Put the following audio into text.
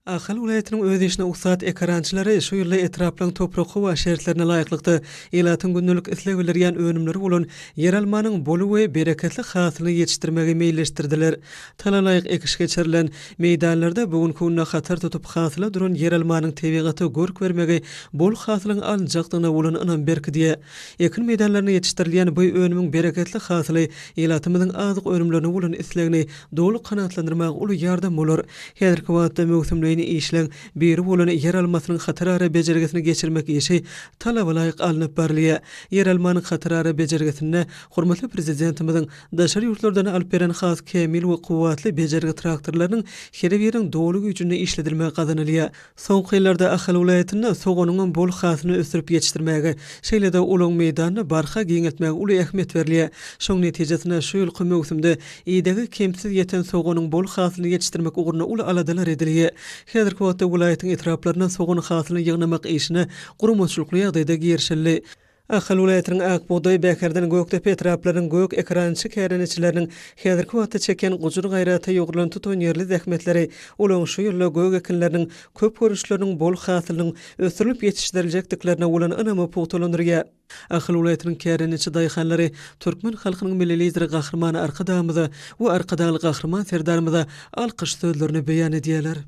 Ahal welaýatynyň öz işine ussat ekerançylary şu ýylda etraplaryň toprak-howa şertlerine laýyklykda, ilatyň gündelik isleg bildirýän önümleri bolan ýeralmanyň bol we bereketli hasylyny ýetişdirmegi meýilleşdirdiler. Talalaýyk ekiş geçirilen meýdanlarda bu günki günde hatar tutup hasyla duran ýeralmanyň tebigata görk bermegi bol hasylyň alynjakdygyna bolan ynam berkidýär. Ekin meýdanlarynda ýetişdirilýän bu önümiň bereketli hasyly ilatymyzyň azyk önümlerine bolan islegini Doly kanagatlandyrmaga uly ýardam bolar. Häzirki wagtda möwsümleýin işleň biri bolan ýeralmasynyň hatarara bejergisini geçirmek işi talabalaýyk alnyp barylýar. Ýeralmanyň hatarara bejergisinde hormatly Prezidentimiziň daşary ýurtlardan alyp beren has kämil we kuwwatly bejergi traktorlarynyň her biriniň doly güýjünde işledilmegi gazanylýar. Soňky ýyllarda Ahal welaýatynda soganyňam bol hasylyny ösdürip ýetişdirmäge, şeýle-de olaň meýdanyny barha giňeltmäge uly ähmiýet berilýär. Şoň netijesinde, şu ýylky möwsümde idegi kemsiz ýeten soganyň bol hasylyny ýetişdirmek ugrunda uly aladalar edilýär. Häzirki wagtda welaýatyň etraplarynda sogan hasylyny ýygnamak işine guramaçylykly ýagdaýda girişildi. Ahal welaýatynyň Ak bugdaý, Bäherden, Gökdepe etraplarynyň gök ekrançy kärendeçileriniň häzirki wagtda çekýän gujur-gaýrata ýugrulan tutanýerli zähmetleri olaryň şu ýylda gök ekinleriniň köp görnüşleriniň bol hasylynyň ösdürilip ýetişdiriljekdiklerine bolan ynamy pugtalandyrýar. Ahal welaýatynyň kärendeçi daýhanlary türkmen halkynyň Milli Lideri Gahryman Arkadagymyza we Arkadagly Gahryman Serdarymyza alkyş sözlerini beýan edýärler.